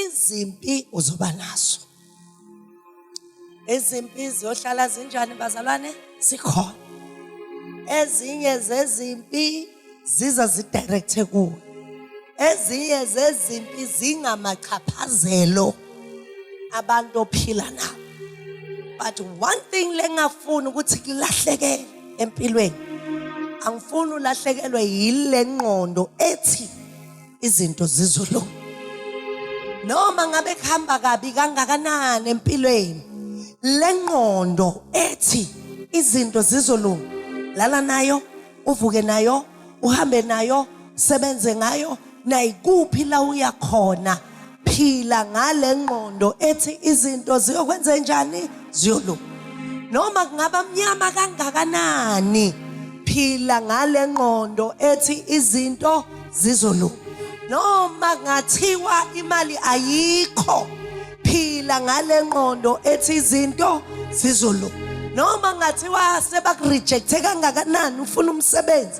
izimpi uzoba nazo izimpi ziyohlala zinjani bazalwane sikhona ezinye zezimpi ziza zidirecthe kuwe ezinye zezimpi zingamachaphazelo abantu ophila nabo but one thing lengafuni ukuthi kulahleke empilweni angifuni ulahlekelwe yile ngqondo ethi izinto zizolunga noma ngabe kuhamba kabi kangakanani empilweni lengqondo ethi izinto zizolunga lala nayo uvuke nayo uhambe nayo sebenze ngayo nayikuphi la uya khona phila ngale ngqondo ethi izinto ziyokwenze njani ziyolunga noma kungaba mnyama kangakanani phila ngale ngqondo ethi izinto zizolunga noma ngathiwa imali ayikho phila ngale ngqondo ethi izinto zizolunga noma ngathiwa sebakurejecte kangakanani ufuna umsebenzi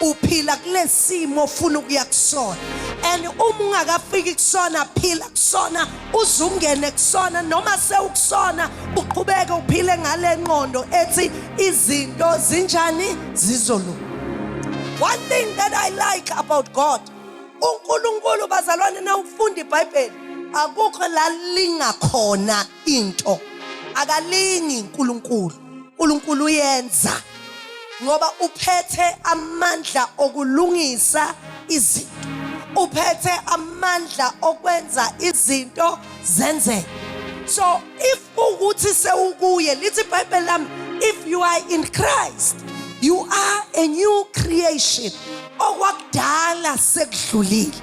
uphila kulesimo ofuna ukuya kusona and uma ungakafiki kusona phila kusona uzungene kusona noma sewukusona uqhubeke uphile ngale nqondo ethi izinto zinjani zizolunga one thing that i like about god uNkulunkulu bazalwane na ukufunda iBhayibheli akukho la lingakhona into akalingi uNkulunkulu uNkulunkulu uyenza ngoba uphethe amandla okulungisa izinto uphethe amandla okwenza izinto zenzeke so if ukuthi sewukuye lithi ibhayibheli lami if you are in Christ you are a new creation okwakudala sekudlulile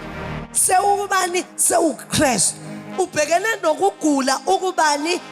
sewubani sewuKristu ubhekene nokugula ukubani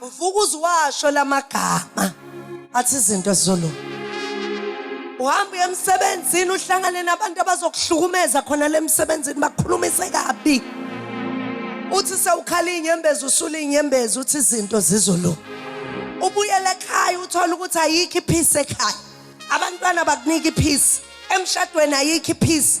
Uvuka uziwasho lamagama athi izinto zizolunga. Uhamba uye emsebenzini uhlangane nabantu abazokuhlukumeza khona le msebenzini bakukhulumise kabi. Uthi sewukhala inyembezi usula inyembezi uthi izinto zizolunga. Ubuyele ekhaya uthola ukuthi ayikho iphisi ekhaya. Abantwana bakunika iphisi. Emshadweni ayikho iphisi.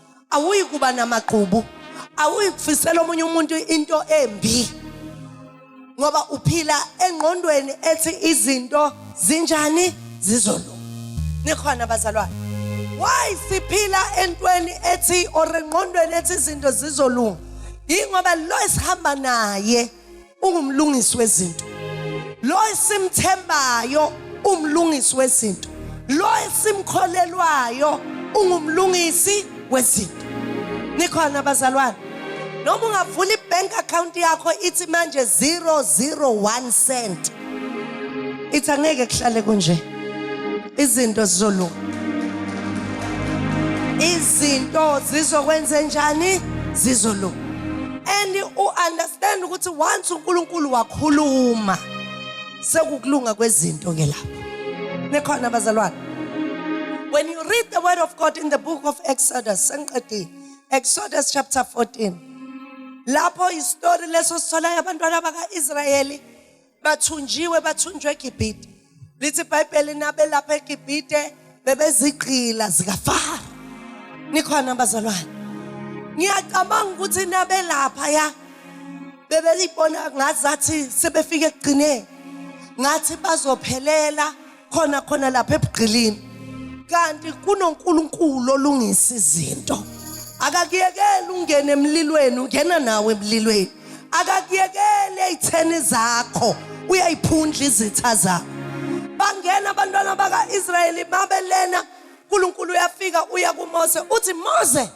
awuyi kuba namagqubu awuyi kufisela omunye umuntu into embi ngoba uphila engqondweni ethi izinto zinjani zizolunga nikhona bazalwane why siphila entweni ethi or engqondweni ethi izinto zizolunga yingoba lo esihamba naye ungumlungisi wezinto lo esimthembayo umlungisi wezinto lo esimkholelwayo ungumlungisi wezinto nikhona abazalwane noma ungavula ibank account yakho ithi manje 001 cent ithi angeke kuhlale kunje izinto zizolunga izinto zizokwenze njani zizolunga and u-understand ukuthi once unkulunkulu wakhuluma sekukulunga kwezinto ke lapho nikhona abazalwane when you read the word of god in the book of exodus sengiqedile exodus chapter 14 lapho istori leso sitholayo abantwana baka-israyeli bathunjiwe bathunjwe egibhite lithi ibhayibheli nabelapha egibhite bebezigqila zikafara nikhona bazalwane ngiyacabanga ukuthi nabelapha ya bebelibona ngazathi sebefike ekugcineni ngathi bazophelela khona khona lapha ebugqilini kanti kunoNkulunkulu olungisa izinto akakuyekeli ungene emlilweni ungena nawe emlilweni akakuyekeli eyitheni zakho uyayiphundla izitha zakho bangena abantwana baka-israyeli babelena uNkulunkulu uyafika uya kuMose uthi Mose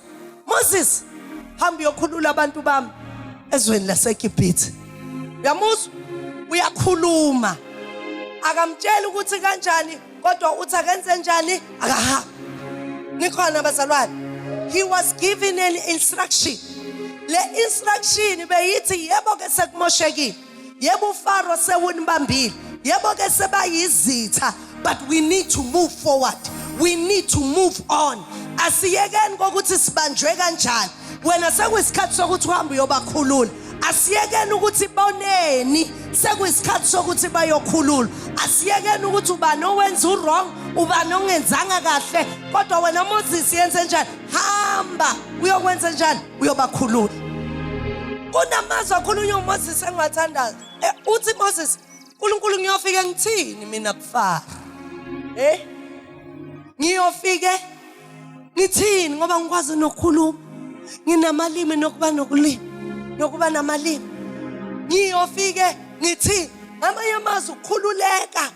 Moses hamba uyokhulula abantu bami ezweni laseGibhithe uyamuzwa uyakhuluma akamtsheli ukuthi kanjani kodwa uthi akenze njani akahambi nikhona bazalwane he was given an instruction le instruction beyithi yebo ke sekumoshekile yebo ufaro sewunibambile yebo ke sebayizitha but we need to move forward we need to move on asiyekeni kokuthi sibanjwe kanjani wena sekuyisikhathi sokuthi uhambe uyobakhulula asiyekeni ukuthi boneni sekuyisikhathi sokuthi bayokhulula asiyekeni ukuthi ubani owenza uwrong ubani ongenzanga kahle kodwa wena moses yenze njani hamba uyokwenza njani uyobakhulula kunamazwi akhulunywa uMoses engiwathandayo eh, uthi Moses uNkulunkulu ngiyofike ngithini mina kufara eh ngiyofike ngithini ngoba ngikwazi nokukhuluma nginamalimi nokuba nokulima nokuba namalimi ngiyofike ngithini ngamanye amazwi ukukhululeka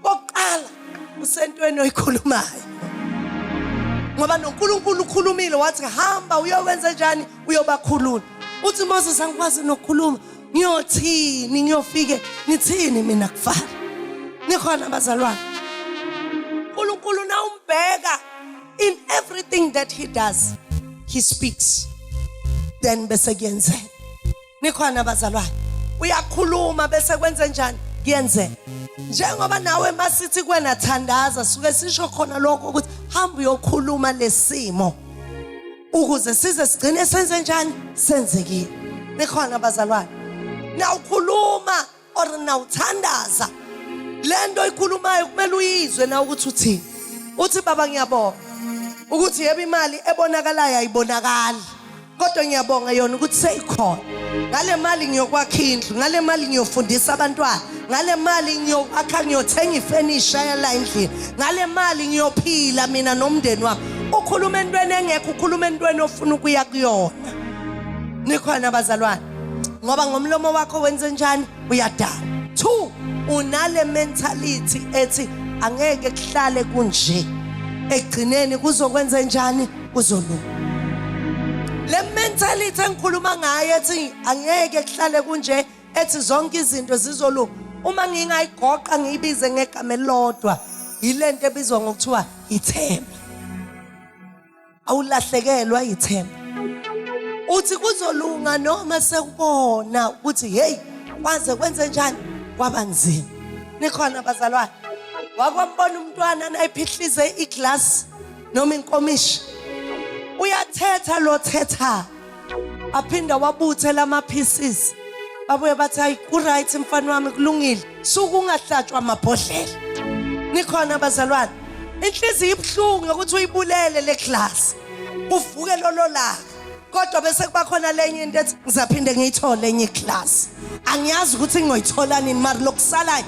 Kokuqala usentweni oyikhulumayo. Ngoba noNkulunkulu ukhulumile wathi hamba uyokwenza njani uyobakhulula. Uthi Moses angikwazi nokukhuluma ngiyothini ngiyofike ngithini mina kufana. Nikhona bazalwane. uNkulunkulu nawumbheka in everything that he does he speaks then bese kuyenzeka nikhona abazalwane uyakhuluma bese kwenze njani kuyenzeka njengoba nawe masithi kwena thandaza suke sisho khona lokho ukuthi hamba uyokhuluma lesimo ukuze size sigcine senze njani senzekile nikhona abazalwane nawukhuluma or nawuthandaza lento oyikhulumayo kumele uyizwe na ukuthi uthini uthi baba ngiyabonga ukuthi yebo imali ebonakalayo ayibonakali kodwa ngiyabonga yona ukuthi seyikhona ngale mali ngiyokwakha indlu ngale mali ngiyofundisa abantwana ngale mali ngiyokwakha ngiyothenga ifenisha yala endlini ngale mali ngiyophila mina nomndeni wami ukhuluma entweni engekho ukhuluma entweni ofuna ukuya kuyona nikhona bazalwane ngoba ngomlomo wakho wenze njani uyadala two unale mentality ethi angeke kuhlale kunje ekugcineni kuzokwenza njani kuzolunga le mentality engikhuluma ngayo ethi angeke kuhlale kunje ethi zonke izinto zizolunga uma ngingayigoqa ngiyibize ngegama elilodwa yilento ebizwa ngokuthiwa ithemba awulahlekelwa ithemba uthi kuzolunga noma sekubona ukuthi hey kwaze kwenze njani kwaba nzima nikhona bazalwane wakwambona umntwana nayiphihlize iglasi noma inkomishi uyathetha lo thetha aphinda wabuthe lama pieces babuye bathi hayi uright mfana wami kulungile suku ungahlatshwa amabhodlela nikhona bazalwane inhliziyo ibuhlungu yokuthi uyibulele le class uvuke lolo laka kodwa bese kuba khona lenye into ethi ngizaphinde ngiyithole enye class angiyazi ukuthi ngiyoyithola nini mari lokusalayo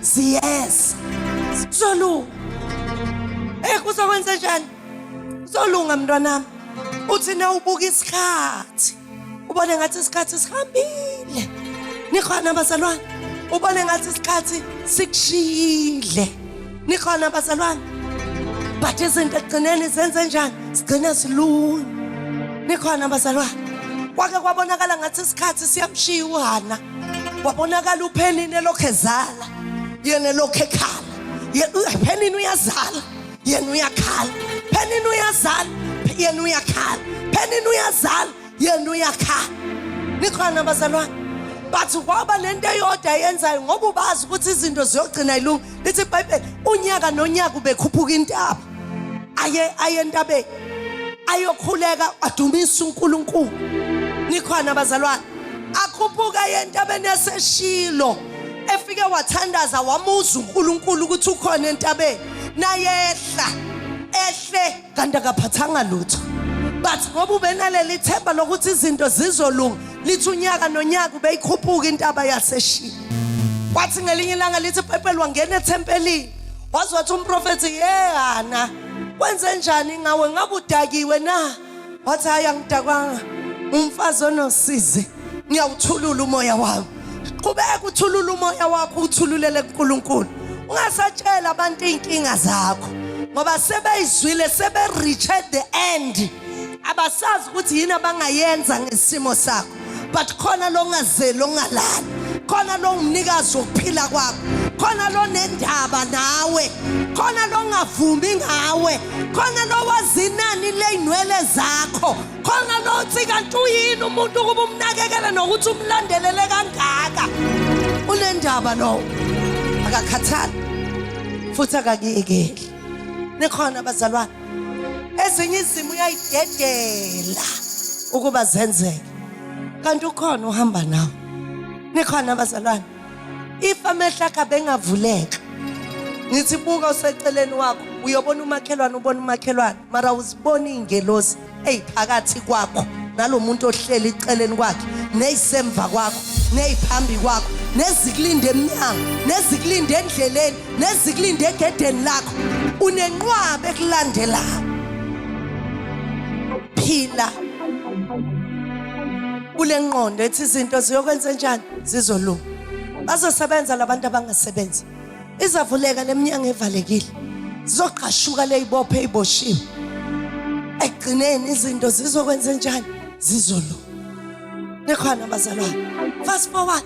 ziyeza zolunga eh kuzokwenza njani zolunga mntwanami uthi na ubuka isikhathi ubone ngathi isikhathi sihambile nikhona abazalwane ubone ngathi isikhathi sikushiyile nikhona abazalwane but izinto ekugcineni zenze njani sigcine zilunye nikhona abazalwane kwake kwabonakala ngathi isikhathi siyamshiya uhana wabonakala uphenini elokhu ezala yena elokhu ekhala phenini uyazala yena uyakhala phenini uyazala yena uyakhala phenini uyazala yena uyakhala nikhona bazalwane but kwaba nento eyodwa yenzayo ngoba ubazi ukuthi izinto ziyogcina ilunga lithi ibhayibheli unyaka nonyaka ubekhuphuka intaba aye aye entabeni ayokhuleka adumisa uNkulunkulu nikhona abazalwane akhuphuka entabeni yaseshilo efike wathandaza wamuza uNkulunkulu ukuthi ukhona entabeni nayehla ehle kanti akaphathanga lutho but ngoba ubenaleli themba lokuthi izinto zizolunga lithi unyaka nonyaka ubeyikhuphuka intaba yaseshiya kwathi ngelinye ilanga lithi ibhayibheli wangena ethempelini waze wathi umprofethi yehana kwenze njani ngawe ngabe udakiwe na wathi hhayi angidakwanga umfazi onosizi ngiyawuthulula umoya wami qhubeka uthulule umoya wakho uthululele kuNkulunkulu ungasatshela abantu inkinga zakho ngoba sebeyizwile sebe reach at the end abasazi ukuthi yini abangayenza ngesimo sakho but khona longazeli ongalali khona longumnikazi wokuphila kwakho khona lonendaba nawe khona longavumi ngawe khona lowazinani leyinwele zakho khona lothi kanti uyini umuntu ukuba umnakekele nokuthi umlandelele kangaka unendaba lowo akakhathali futhi akakuyekeli nikhona bazalwane ezinye izimo uyayidedela ukuba zenzeke kanti ukhona uhamba nawe nikhona bazalwane if amehlo akhe abengavuleka ngithi buka useceleni wakho uyobona umakhelwane ubona umakhelwane mara uzibona iy'ngelosi ey'phakathi kwakho nalo muntu ohleli eceleni kwakhe neyisemva kwakho neyiphambi kwakho nezikulinde emnyango nezikulinde endleleni nezikulinde egedeni lakho unenqwabe ekulandelayo phila kule nqondo ethi izinto ziyokwenza njani zizolunga bazosebenza labantu abangasebenzi izavuleka leminyango evalekile zizogqashuka leyibophe iboshiwe ekugcineni izinto zizokwenza njani zizolunga nikhona bazalwane fast forward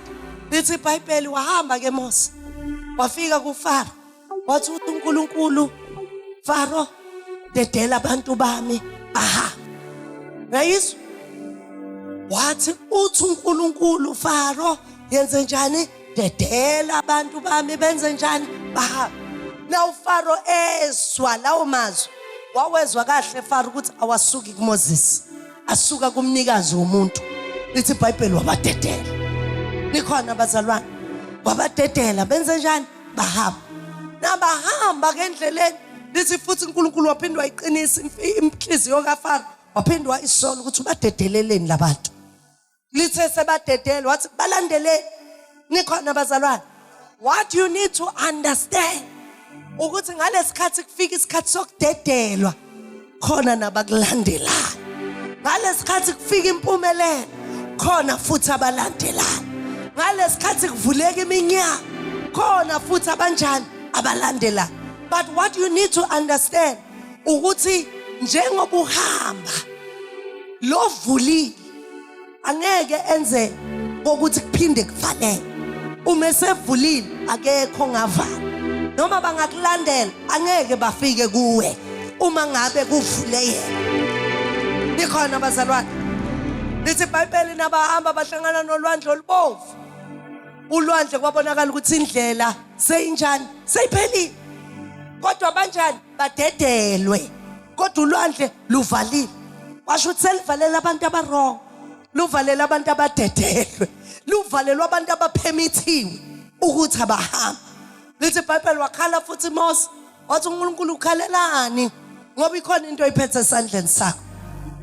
lithi ibhayibheli wahamba ke mose wafika kufaro wathi unkulunkulu faro dedela abantu bami aha ngayizwa wathi uthi unkulunkulu faro yenze njani dedela abantu bami benze njani bahambe na ufaro ezwa lawo mazwi wawezwa kahle faro ukuthi awasuki kumoses asuka kumnikazi womuntu lithi ibhayibheli wabadedela nikhona bazalwane wabadedela benze njani bahamba nabahamba ke endleleni lithi futhi uNkulunkulu waphinde wayiqinisa inhliziyo kaFaro waphinde wayisola ukuthi ubadedeleleni labantu lithe sebadedele wathi balandele nikhona bazalwane what you need to understand ukuthi ngalesikhathi kufika isikhathi sokudedelwa khona nabakulandelayo ngalesikhathi kufika impumelelo khona futhi abalandelayo ngalesikhathi kuvuleka iminyaka khona futhi abanjani abalandelayo but what you need to understand ukuthi njengoba uhamba lovulile angeke enze kokuthi kuphinde kuvaleke uma esevulile akekho ongavala noma bangakulandela angeke bafike kuwe uma ngabe kuvule yena nikhona bazalwane lithi ibhayibheli nabahamba bahlangana nolwandle olubomvu ulwandle kwabonakala ukuthi indlela seyinjani seyiphelile kodwa banjani badedelwe kodwa ulwandle luvalile washo ukuthi selivalela abantu abarong luvalela abantu abadedelwe luvalelwa abantu abaphemithiwe ukuthi abahambe lithi ibhayibheli wakhala futhi mose wathi unkulunkulu ukhalelani ngoba ikhona into oyiphethe esandleni sakho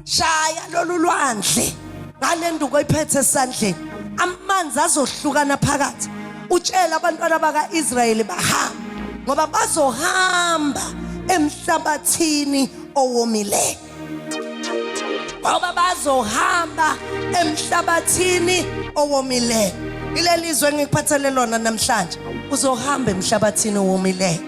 shaya lolu lwandle ngale nduku oyiphethe esandleni amanzi azohlukana phakathi utshela abantwana baka-israyeli bahamba ngoba bazohamba emhlabathini owomileyo ngoba bazohamba emhlabathini owomileyo ileli zwe engikuphathele lona namhlanje uzohamba emhlabathini owomileyo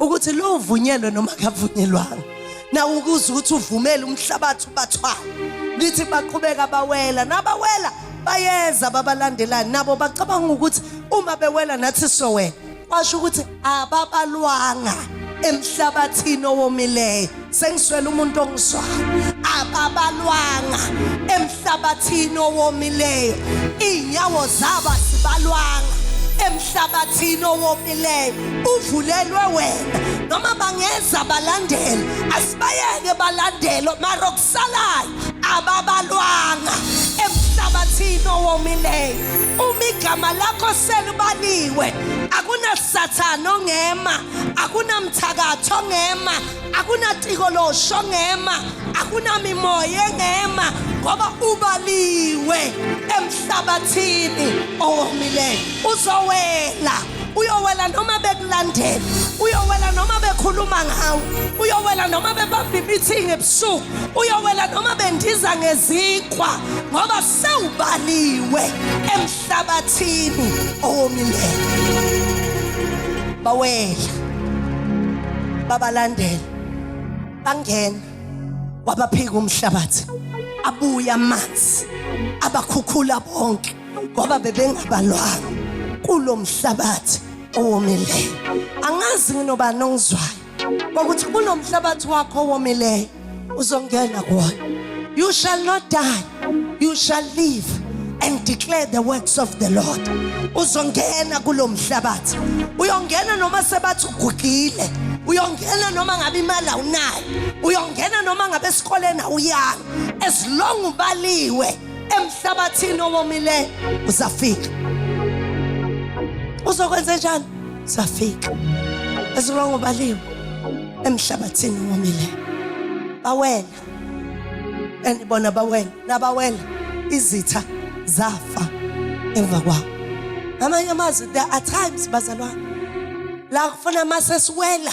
ukuthi lo uvunyelwe noma kavunyelwanga nawe ukuze ukuthi uvumele umhlabathi ubathwala lithi baqhubeka bawela nabawela bayeza babalandelani nabo bacabanga ukuthi uma bewela nathi sowela kwasho ukuthi ababalwanga emhlabathini owomileyo sengiswela umuntu ongizwayo ababalwanga emhlabathini owomileyo iy'nyawo zabo azibalwanga emhlabathini owomileyo uvulelwe wena noma bangeza balandele asibayeke balandele mara okusalayo ababalwanga emhlabathini owomileyo uma igama lakho selibaliwe akunasathane ongema akunamthakathi ongema akunaciko losho ngema akunamimoya engema ngoba ubaliwe emhlabathini owomileyo uzowela uyowela noma bekulandela uyowela noma bekhuluma ngawe uyowela noma bebamba imithingi ebusuku uyowela noma bendiza ngezikhwa ngoba sewubaliwe emhlabathini owomileyo bawela babalandela bangena wabaphika umhlabathi abuya amanzi abakhukhula bonke ngoba bebengabalwanga kulomhlabathi owomileyo angazi nginobani ongizwayo kokuthi kunomhlabathi wakho owomileyo uzongena kuwona you shall not die you shall live and declare the works of the lord uzongena kulo mhlabathi uyongena noma sebathi ugugile uyongena noma ngabe imali awunayo uyongena noma ngabe esikoleni awuyanga as long ubaliwe emhlabathini owomileyo uzafika uzokwenze njani safika ezulwa ngobaliwe emhlabathini womile bawela and bona bawela nabawela izitha zafa emva kwawo amanye amazwi there are times bazalwane la kufuna masesiwela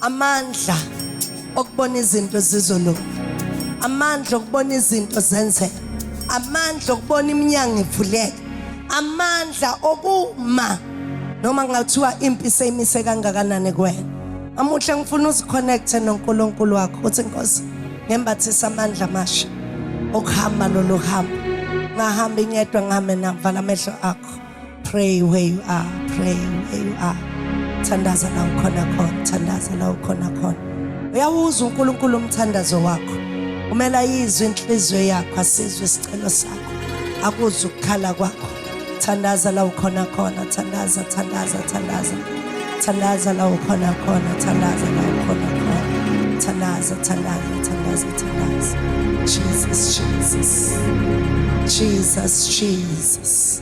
amandla okubona izinto zizolunga amandla okubona izinto zenzeka amandla okubona iminyango ivuleka amandla okuma noma kungathiwa impi seyimise kangakanani kuwena amuhle ngifuna uziconnecte nonkulunkulu wakho uthi nkosi ngembathisa amandla amasha okuhamba lolu hamba ngahambi ngedwa ngihame navala amehlo akho pray where you are pray where you are thandaza la ukhona khona thandaza la ukhona khona uyawuzwa uNkulunkulu umthandazo wakho umela izwi inhliziyo yakho asizwe isicelo sakho akuzwe ukukhala kwakho thandaza la ukhona khona thandaza thandaza thandaza thandaza la ukhona khona thandaza la ukhona khona thandaza thandaza thandaza thandaza Jesus Jesus Jesus Jesus